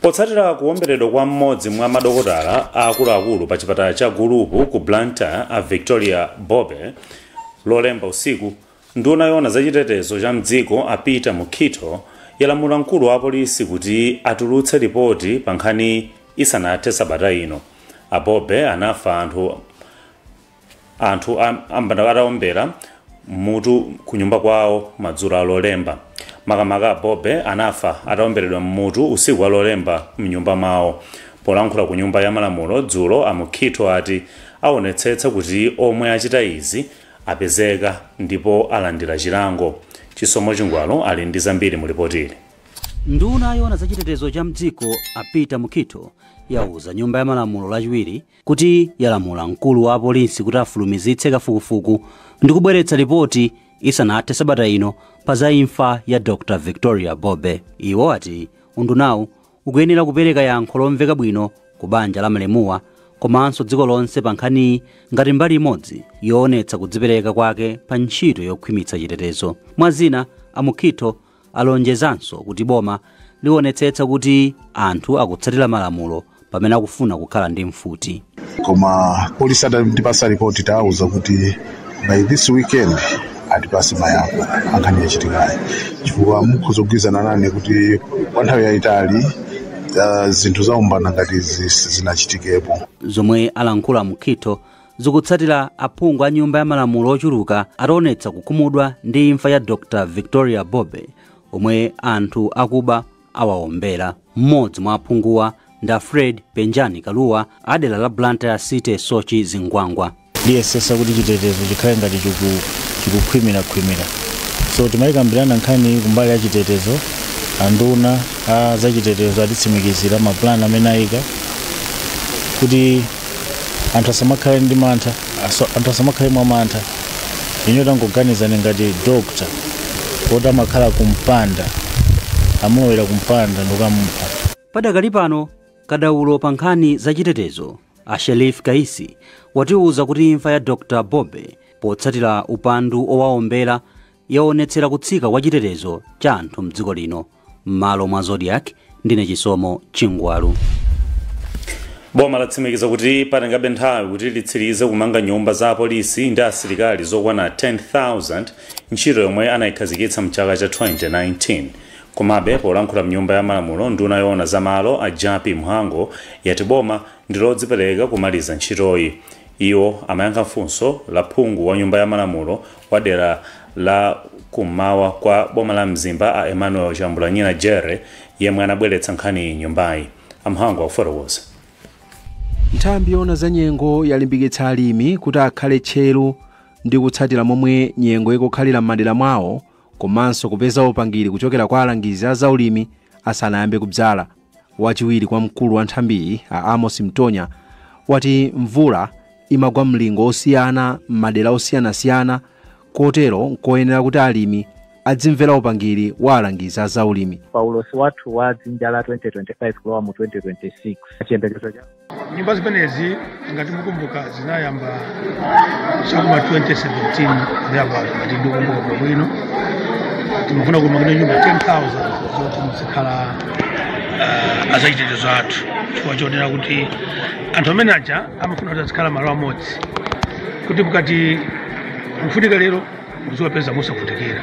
potsatira kuwomberedwa kwa mmodzi mwa madokotala aakuluakulu pa chipatala cha gulupu ku blantyre a victoria bobe lolemba usiku nduna yoona za chitetezo cha mdziko a peter mukhitho yalamula mkulu wa apolisi kuti atulutse ripoti pa nkhaniyi isanathe sabata ino a bobe anafa anthu Anthu a ambanda atawaombera m'mutu kunyumba kwawo madzulo a Lolemba. Makamaka a Bobe anafa ataomberedwa m'mutu usiku wa Lolemba m'nyumba mwawo. Polankhula ku nyumba ya malamulo dzulo a Mukhitho ati awonetsetsa kuti omwe achita izi apezeka ndipo alandira chilango. Chisomo Chingwalu ali ndi zambiri mu lipotili. Nduna yoona za chitetezo cha mdziko a Peter Mukhitho yauza nyumba ya malamulo lachiwiri kuti yalamula mkulu wa apolisi kuti afulumizitse kafukufuku ndi kubweretsa lipoti isanathe sabata ino pa za imfa ya Dr Victoria Bobe. Iwo ati undunawu ukuyenera kupereka yankho lomveka bwino ku banja la malemuwa komanso dziko lonse pa nkhaniyi ngati mbali imodzi yoonetsa kudzipereka kwake pa ntchito yokhwimitsa chitetezo. Mwa zina, a Mukhitho Alonjezanso kuti boma lionetsetsa kuti anthu akutsatira malamulo pamene akufuna kukhala ndi mfuti. koma polisi atatipasa ripoti tawauza kuti by this weekend atipase mayankho a nkhani yachitikayi chifukwa mukhoza kugwirizana nane kuti kwa nthawi yayitali ah, zinthu zaumbanda ngati izi sizinachitikepo zomwe alankhula a mukhitho zikutsatira aphungu a nyumba ya malamulo ochuluka ataonetsa kukhumudwa ndi imfa ya dr victoria bobe omwe anthu akuba awaombera mmodzi mwa aphunguwa ndi a fred penjani kaluwa a dera la blantyre city soche zingwangwa liyesesa kuti chitetezo chikhale ngati chiku- chikukhwimirakhwimira so timayikambirana nkhani kumbali ya chitetezo anduna a zachitetezo atitsimikizira mapulani amene ayika kuti anthu asamakhale ndi mantha aso- anthu asamakhale mwa mantha ine tangoganizani ngati dokta woti amakhala kumpanda amulowera kumpanda ndi kukamupha padakali pano kadaulo pa nkhani zachitetezo a sherif kaisi watiwuza kuti imfa ya dr bobe potsatira upandu owaombera yaonetsera kutsika kwa chitetezo cha anthu mdziko lino m'malo mwa zodiac ndine chisomo chingwalu boma latsimikiza kuti patengabe nthawi kuti litsirize kumanga nyumba za apolisi ndi asilikali zokwana 10,000 ntchito yomwe anayikhazikitsa mchaka cha 2019 komabe polankhula mnyumba ya malamulo nduna yoona za malo a jappie mhango yati boma ndilodzipereka kumaliza ntchitoyi iwo amayankha funso la phungu wa nyumba ya malamulo wa dera la ku m'mawa kwa boma la mzimba a emmanuel chambulanyina jere yemwe anabweretsa nkhaniyi m'nyumbayi a mhango akufotokoza nthambi yoona za nyengo yalimbikitsa alimi kuti akhale tcheru ndi kutsatira momwe nyengo ikukhalira m'madera mwawo komanso kupeza upangiri kuchokera kwa alangizi a zaulimi asanayambe kubzala Wachiwiri kwa mkulu wa nthambiyi a Amos Mtonya wati mvula imagwa mlingo osiyana m'madera osiyanasiyana kotero nkoyenera kuti alimi adzimvera upangiri wa alangizi a zaulimi. Pa ulosi wathu wa dzinja la 2025 kulowa mu 2026, chiyembekezo cha. nyumba zimenezi ngati mukumbuka zinayamba chakuma 2017 thereabout ngati ndikukumbuka bwino bwino timafuna kumanga nyumba 10000 zoti muzikhala uh, azachitetezo athu chifukwa chonena kuti anthu amene aja amafuna kuti azikhala malo amodzi kuti mukati akufunika lero muziwapeza mosavutikira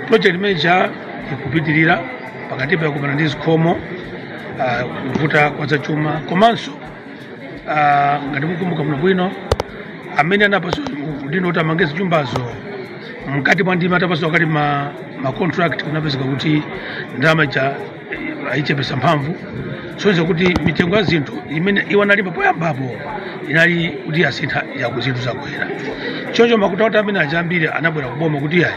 project imeneyo ikupitirira pakati pa kumana ndi zikhomo ah, kuvuta kwa zachuma komanso ah, ngati mukumbuka bwino bwino amene anapatsidwa udindo kuti amange zinyumbazo mkati mwa ndima atapatsidwa kale ma, ma contract kunapezeka kuti ndalama ija anaichepetsa mphamvu zoonetsa kuti mitengo ya zinthu imene iwo analipa poyambapo inali kuti yasintha ya kuti zinthu zakwera choncho macontractor amene aja ambiri anabwera kuboma kuti ayi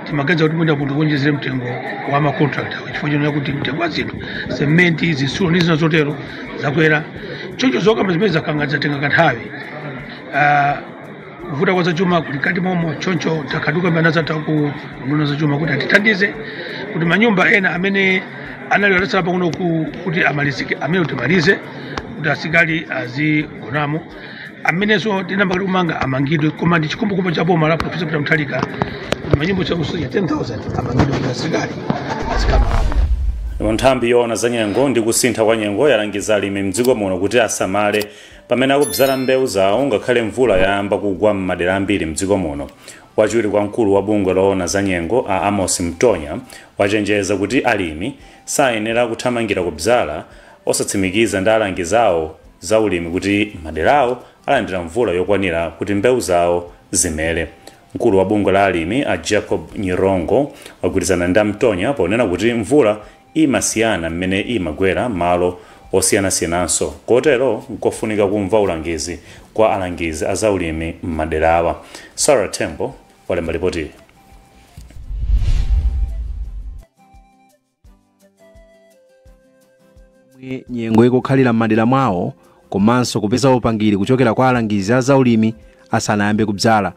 timaganiza kuti mwina mutiwonjezere mtengo wa macontract chifukwa chonena kuti mtengo wa zinthu sementi zitsulo ndi zina zotero zakwera choncho zokamba zimenezo zakhala zatenga kanthawi Ah, kuvuta kwa zachuma kuli mkati momo choncho takhala tikukambirana ndi anzathu aku unduna wa zachuma kuti atithandize kuti manyumba ena amene anali atasala pang'ono ku- kuti amalizike amenewo timalize kuti asilikali azigonamo amenenso sitinayambe kuti kumanga amangidwe koma ndi chikhumbokhumbo cha boma la profesa peter mutharika kuti manyumba okwana 10000 amangidwe kuti asilikali azikhalamo nthambi yoona za nyengo ndi kusintha kwa nyengo yalangiza alimi mdziko muno kuti asamale Pamene akubzala mbeu zawo ngakhale mvula yayamba kugwa m'madera ambiri mdziko muno, wachiwiri kwa mkulu wa bungwe loona za nyengo a Amos Mtonya wachenjeza kuti alimi sayenera kuthamangira kubzala osatsimikiza ndi alangizi awo a zaulimi kuti maderawo alandira mvula yokwanira kuti mbeu zawo zimere. Mkulu wa bungwe la alimi a Jacob Nyirongo wagwirizana ndi a Mtonya ponena kuti mvula imasiyana mmene imagwera m'malo osiyanasiyananso kotero nkofunika kumva ulangizi kwa alangizi a zaulimi m'maderawa. Sarah Thembo walemba lipotili. momwe nyengo ikukhalira m'madera mwawo komanso kupeza upangiri kuchokera kwa alangizi a zaulimi asanayambe kubzala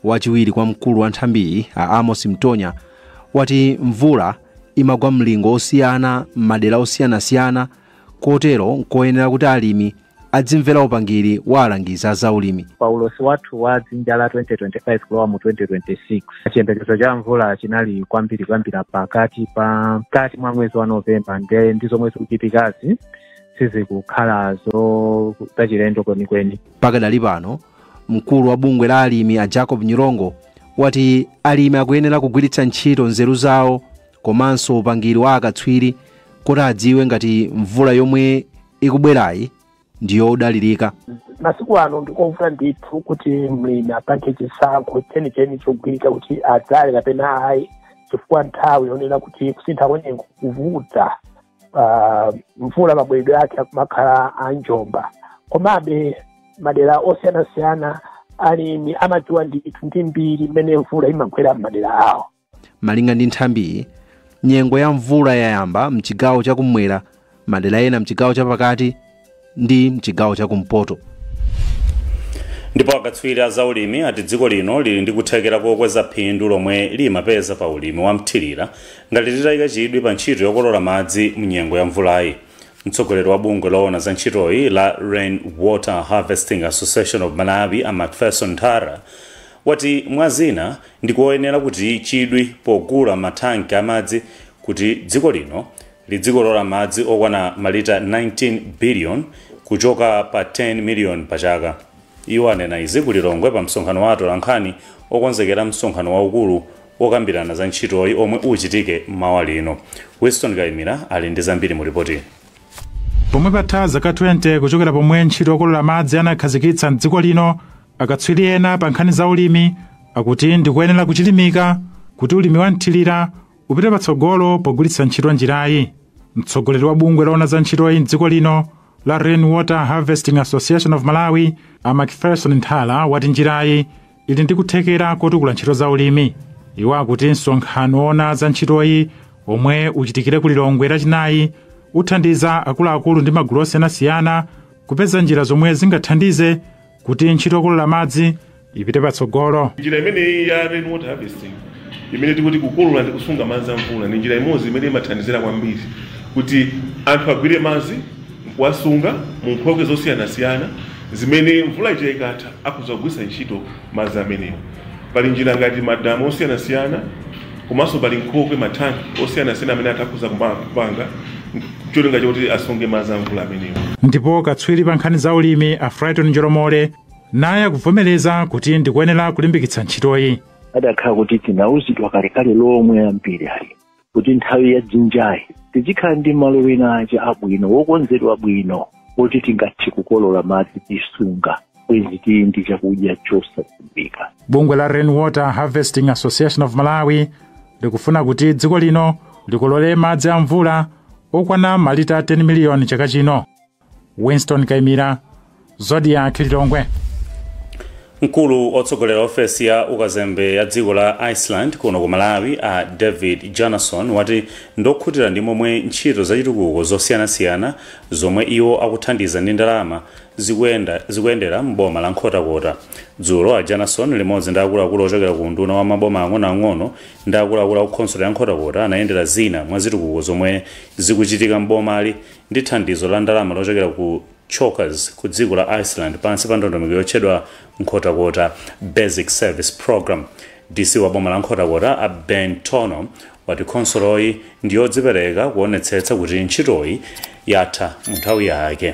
Wachiwiri kwa mkulu wa nthambiyi a Amos Mtonya wati mvula imagwa mlingo wosiyana m'madera osiyanasiyana kotero nkoyenera kuti alimi adzimvera upangiri wa alangizi a zaulimi. Pa ulosi wathu wa dzinja la 2025 kulowa mu 2026, chiyembekezo cha mvula chinali kwambiri kuyambira pakatikati mwa mwezi wa Novemba nde zomwe zikuchitikazi sizikukhala zo zachilendo kwenikweni. Pakadali pano Mkulu wa bungwe la alimi a Jacob Nyirongo wati alimi akuyenera kugwiritsa ntchito nzeru zawo komanso upangiri wa akatswiri kuti adziwe ngati mvula yomwe ikubwerayi ndi yodalirika. masiku ano ndikovuta ndithu kuti mlimi apange chisankho chenicheni chogwirika kuti adzale kapena ayi chifukwa nthawi yonena kuti kusintha kwanyengo kuvuta ah, mvula mabweredwe ake akumakhala a njomba komabe madera osiyanasiyana alimi amadziwa ndithu ndi mbiri mmene mvula imagwera m'madera awo malinga ndi nthambiyi nyengo ya mvula yayamba mchigawo chakumwera madera ena mchigawo chapakati ndi mchigawo chakumpoto ndipo akatswiri a zaulimi ati dziko lino lili ndi kuthekera kokweza phindu lomwe limapeza pa ulimi wa mthirira ngati litayika chidwi pa ntchito yokolola madzi mnyengo ya mvulayi mtsogoleri wa bungwe loona za ntchitoyi la rain water harvesting association of malawi a macpherson nthala wati mwa zina ndikoyenera kuika chidwi pogula mathanki amadzi kuti dziko lino Lidzikolola madzi okwana malita 19 biliyoni kuchoka pa 10 miliyoni pa chaka. Iwo anena izi ku Lilongwe pa msonkhano wa atolankhani okonzekera msonkhano waukulu wokambirana za ntchitoyi omwe uchitike mawa lino. Winston Kaimira ali ndi zambiri mu lipotili. Pomwe patha zaka 20 kuchokera pomwe ntchito yokolola madzi anakhazikitsa m'dziko lino, akatswiri ena pa nkhani za ulimi akuti ndikoyenera kuchilimika kuti ulimi wa mthirira upite patsogolo pogwiritsa ntchito njirayi. Mtsogoleri wa bungwe loona za ntchitoyi m'dziko lino la Rain Water Harvesting Association of Malawi, a Macpherson Nthala wati njirayi ili ndi kuthekera kotukula ntchito za ulimi. Iwo akuti msonkhano woona za ntchitoyi omwe uchitikire ku Lilongwe lachinayi uthandiza akuluakulu ndi magulu osiyanasiyana kupeza njira zomwe zingathandize kuti ntchito yokolola madzi ipite patsogolo njira imeneyi ya rain water harvesting imene tikuti kukolola ndi kusunga madzi a mvula ndi njira imodzi imene imathandizira kwambiri kuti anthu agwire madzi nkuwasunga mu nkhokwe zosiyanasiyana zimene mvula ija ikatha akhoza kugwiritsa ntchito madzi amenewo pali njira ngati madamu osiyanasiyana komanso pali nkhokwe mathanki osiyanasiyana amene atha kudzapanga cholinga chakuti asunge madzi amvula amenewo ndipo katswiri pa nkhani za ulimi a frighton njolomole naye akuvomereza kuti ndikoyenera kulimbikitsa ntchitoyi adakakhala kuti tinauzidwa kalekale alimi ambiri ali kuti nthawi ya dzinjayi tizikhala ndi malo ena ake abwino okonzedwa bwino oti tingathe kukolola madzi n'kusunga bwezi tili ndi chakudya chosadziwika bungwe la rainwater harvesting association of malawi likufuna kuti dziko lino likolole madzi a mvula okwana malita 10 miliyoni chaka chino winston kaimira zodiac lilongwe mkulu wotsogolera ofesi ya ukazembe ya dziko la iceland kuno ku malawi a david bjarnason wati ndi wokhutira ndi momwe ntchito zachitukuko zosiyanasiyana zomwe iwo akuthandiza ndi ndalama zikuyenda, zikuyendera m'boma la Nkhotakota. Dzulo, a Bjarnason limodzi ndi akuluakulu ochokera ku unduna wa maboma ang'onoang'ono ndi akuluakulu aku khonsolo ya Nkhotakota anayendera zina mwa zitukuko zomwe zikuchitika m'bomali ndi thandizo la ndalama lochokera ku chokas ku dziko la Iceland pansi pa ndondomeko yotchedwa Nkhotakota Basic Service Programme. DC wa boma la Nkhotakota, a Ben Tonho, wati khonsoloyi ndi yodzipereka kuonetsetsa kuti ntchitoyi yatha mu nthawi yake.